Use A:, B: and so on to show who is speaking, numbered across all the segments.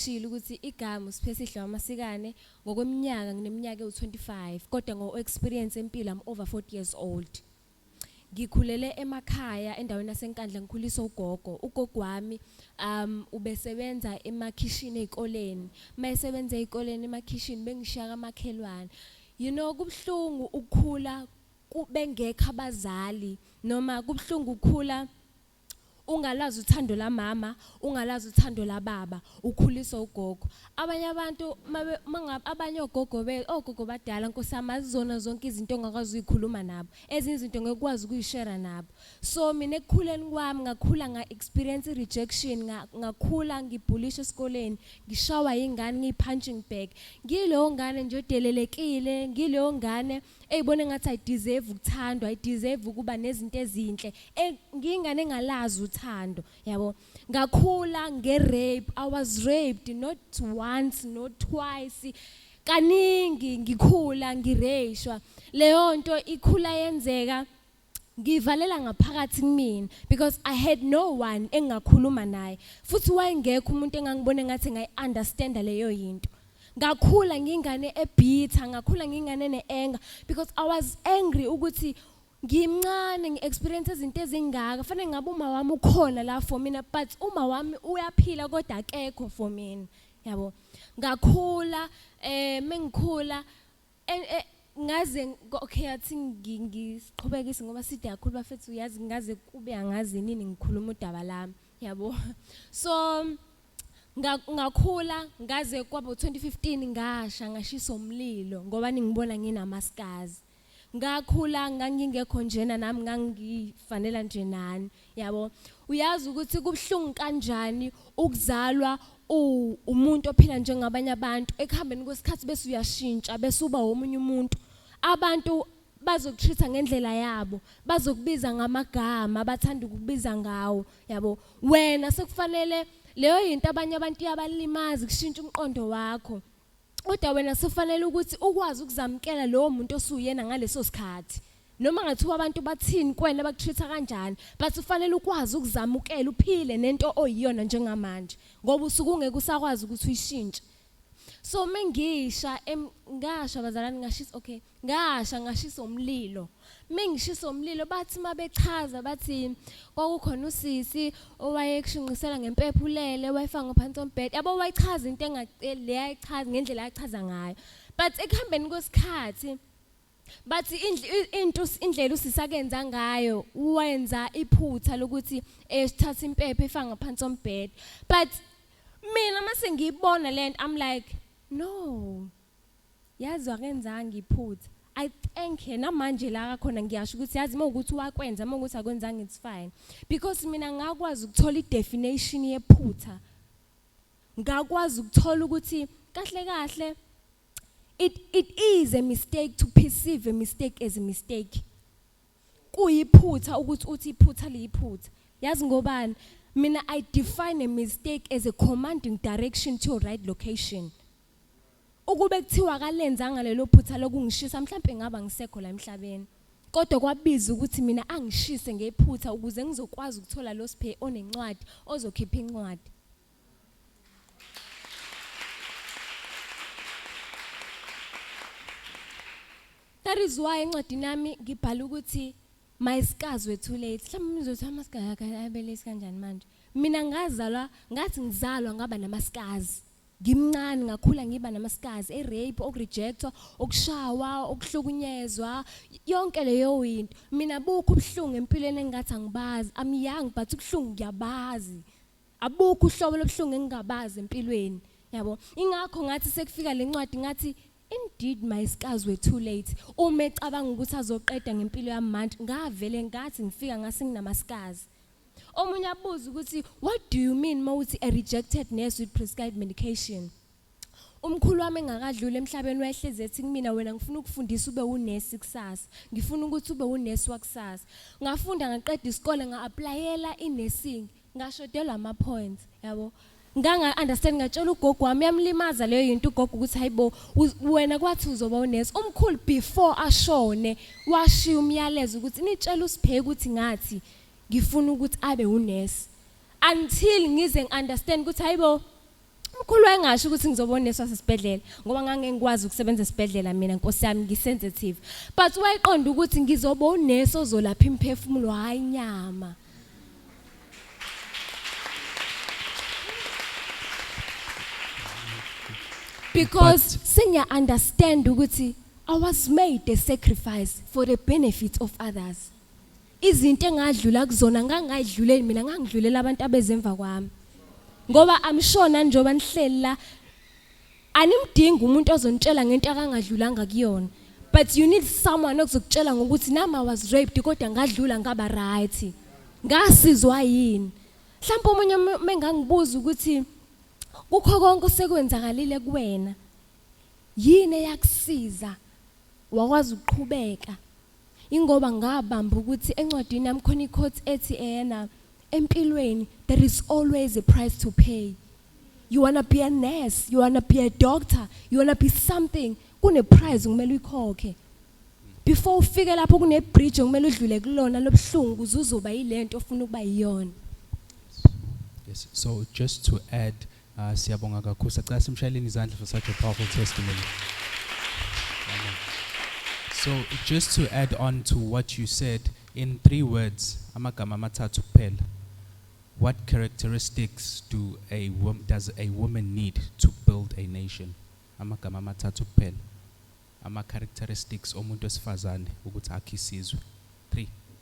A: Kushilo ukuthi igama uSiphesihle waMasikane ngokweminyaka ngineminyaka ewu-25 kodwa ngo-experience empilo I'm over 40 years old. Ngikhulele emakhaya endaweni yaseNkandla ngikhuliswa ugogo. Ugogo wami um ubesebenza emakhishini ezikoleni. Mayesebenza ezikoleni emakhishini bengishiya kamakhelwane. You know kubuhlungu ukukhula bengekho abazali noma kubuhlungu ukukhula ungalazi uthando lamama ungalazi uthando lababa ukhuliswa ugogo abanye abantu abanye ogogo be ogogo badala nkosama azizona zonke izinto ongakwazi uyikhuluma nabo ezinye izinto ngekwazi ukuyishare nabo so mina ekukhuleni kwami ngakhula nga experience rejection ngakhula ngibhulisha esikoleni ngishawa ingane ngiypunching bag ngileyo ngane nje odelelekile ngileyo ngane eyibona engathi i deserve ukuthandwa i deserve ukuba nezinto ezinhle e, ngiyingane engalazi uthando yabo ngakhula nge rape i was raped not once not twice kaningi ngikhula ngireyishwa leyo nto ikhula yenzeka ngivalela ngaphakathi kumina because i had no one engingakhuluma naye futhi wayengekho umuntu engangibona ngathi ngayi-understanda leyo yinto ngakhula ngingane ebhitha ngakhula ngingane ne-anger because i was angry ukuthi ngimncane ngi-experience izinto ezingaka fanele ngabe uma wami ukhona la for mina but uma wami uyaphila kodwa akekho for mina yabo ngakhula um mengikhula And eh, ngaze ngo- okay athi ngi- ngiqhubekise ngoba side kakhulu bafethu uyazi ngaze kube angazi nini ngikhuluma udaba lami yabo so nga- ngakhula ngaze kwabo 2015 ngasha ngashiswa umlilo ngoba ningibona nginamaskazi ngakhula ngangingekho njena nami ngangifanela nje nani yabo uyazi ukuthi kubuhlungu kanjani ukuzalwa umuntu ophila njengabanye abantu ekuhambeni kwesikhathi bese uyashintsha bese uba omunye umuntu abantu bazokutreat ngendlela yabo bazokubiza ngamagama abathanda ukubiza ngawo yabo wena sekufanele leyo yinto abanye abantu yabalimazi kushintsha umqondo wakho kodwa wena sofanele ukuthi ukwazi ukuzamukela lowo muntu osuyena ngaleso sikhathi noma ngathiwa abantu bathini kwena bakutreat-a kanjani but ufanele ukwazi ukuzamukela uphile nento oyiyona njengamanje ngoba usuke ungeke usakwazi ukuthi uyishintshe so mengisha ngasha bazalwane ngashisa okay ngasha ngashisa umlilo mengishisa umlilo bathi mabechaza bathi kwakukhona usisi owayekushinqisela ngempepho ulele wayefaka ngaphansi ombhede yabo wayichaza into engaceli leyayichaza ngendlela achaza ngayo but ekuhambeni kwesikhathi bathi into indlela usisakenza ngayo wenza iphutha lokuthi esithatha impepho efaka ngaphansi ombhede but mina mase ngiyibona lento i'm like no Yazi akenzanga iphutha. I thank her namanje la khona ngiyasho ukuthi yazi uma ukuthi wakwenza uma ukuthi akwenzanga it's fine because mina ngakwazi ukuthola idefinition yephutha ngakwazi ukuthola ukuthi kahle kahle it it is a mistake to perceive a mistake as a mistake kuyiphutha ukuthi uthi iphutha liyiphutha yazi ngobani mina i define a mistake as a commanding direction to your right location Ukube kuthiwa akalenzanga lelo phutha lokungishisa mhlawumbe ngaba ngisekho la emhlabeni. Kodwa kwabiza ukuthi mina angishise ngephutha ukuze ngizokwazi ukuthola lo siphe onencwadi ozokhipha incwadi. That is why encwadini yami ngibhala ukuthi mayisikazwe too late. Mhlawumbe nizothi amasikazi abelesi kanjani manje? Mina ngazalwa ngathi ngizalwa ngaba namasikazi. ngimncane ngakhula ngiba namaskazi erape okurejectwa okushawa okuhlukunyezwa yonke leyo into mina bukho ubuhlungu empilweni engingathi angibazi i'm young but ubuhlungu ngiyabazi abukho uhlobo lobuhlungu engingabazi empilweni yabo ingakho ngathi sekufika lencwadi ngathi indeed my scars were too late uma ecabanga ukuthi azoqeda ngempilo yamanje ngavele ngathi ngifika ngase nginamaskazi omunye abuze ukuthi what do you mean mawuthi a rejected nurse with prescribed medication umkhulu wami engakadluli emhlabeni wayehlezi ethi kumina wena ngifuna ukufundisa ube unesi kusasa ngifuna ukuthi ube unesi wakusasa ngafunda ngaqeda isikole nga-aplayela i-nursing ngashodelwa ama-points yabo nganga-understand ngatshela ugogo wami yamlimaza leyo yinto ugogo ukuthi hayi bo wena kwathi uzoba unesi umkhulu before ashone washiya umyalezo ukuthi nitshela usipheke ukuthi ngathi ngifuna ukuthi abe unesi until ngize ngiunderstand ukuthi hayibo umkhulu wayengasho ukuthi ngizoba unesi wasesibhedlela ngoba ngangengikwazi ukusebenza esibhedlela mina nkosi yami ngisensitive but wayeqonda ukuthi ngizoba unesi ozolapha imphefumulo hayi nyama because senior understand ukuthi I was made a sacrifice for the benefit of others Izinto engadlula kuzona ngangayidluleli mina ngangidlulela abantu abezemva kwami. Ngoba I'm sure nanjoba nihleli la animdingi umuntu ozonitshela ngento akangadlulanga kuyona. But you need someone okuzokutshela ngokuthi nami I was raped kodwa ngadlula ngaba right. Ngasizwa yini? Mhlawumbe omunye mengangibuza ukuthi kukho konke osekwenzakalile kuwena yini eyakusiza wakwazi ukuqhubeka Ingoba ngabamba ukuthi encwadini yami khona iquote ethi eyena empilweni there is always a price to pay. You wanna be a nurse, you wanna be a doctor, you wanna be something kune price kumele uyikhokhe. Before ufike lapho kune bridge kumele udlule kulona lobuhlungu uzuzoba yilento ofuna ukuba yiyona.
B: Yes. So just to add Ah, siyabonga kakhulu. Sacela simshayeleni izandla for such a powerful testimony. Amen. So just to add on to what you said in three words, amagama amathathu kuphela. What characteristics do a wom- does a woman need to build a nation? Amagama amathathu kuphela. Ama characteristics omuntu wesifazane ukuthi akhe isizwe.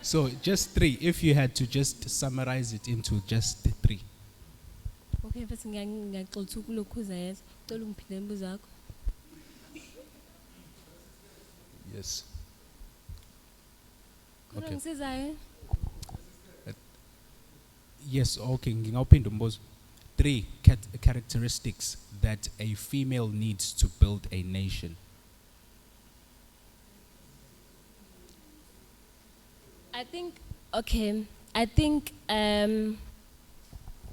B: So just three, if you had to just summarize it into just three.
A: Okay, mfethu ngiya- ngiyaxolisa ukulokhuza yes. Cela ungiphinde imibuzo yakho.
B: Yes.
A: Kodwa Okay. ngisizayo.
B: Yes, okay, ngingawuphinda umbuzo. Three cat- characteristics that a female needs to build a nation.
A: I think okay I think um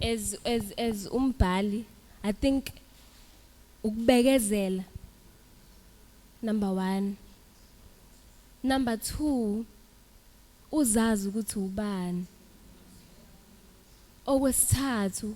A: as as as umbhali I think ukubekezela number 1 number 2 uzazi ukuthi ubani okwesithathu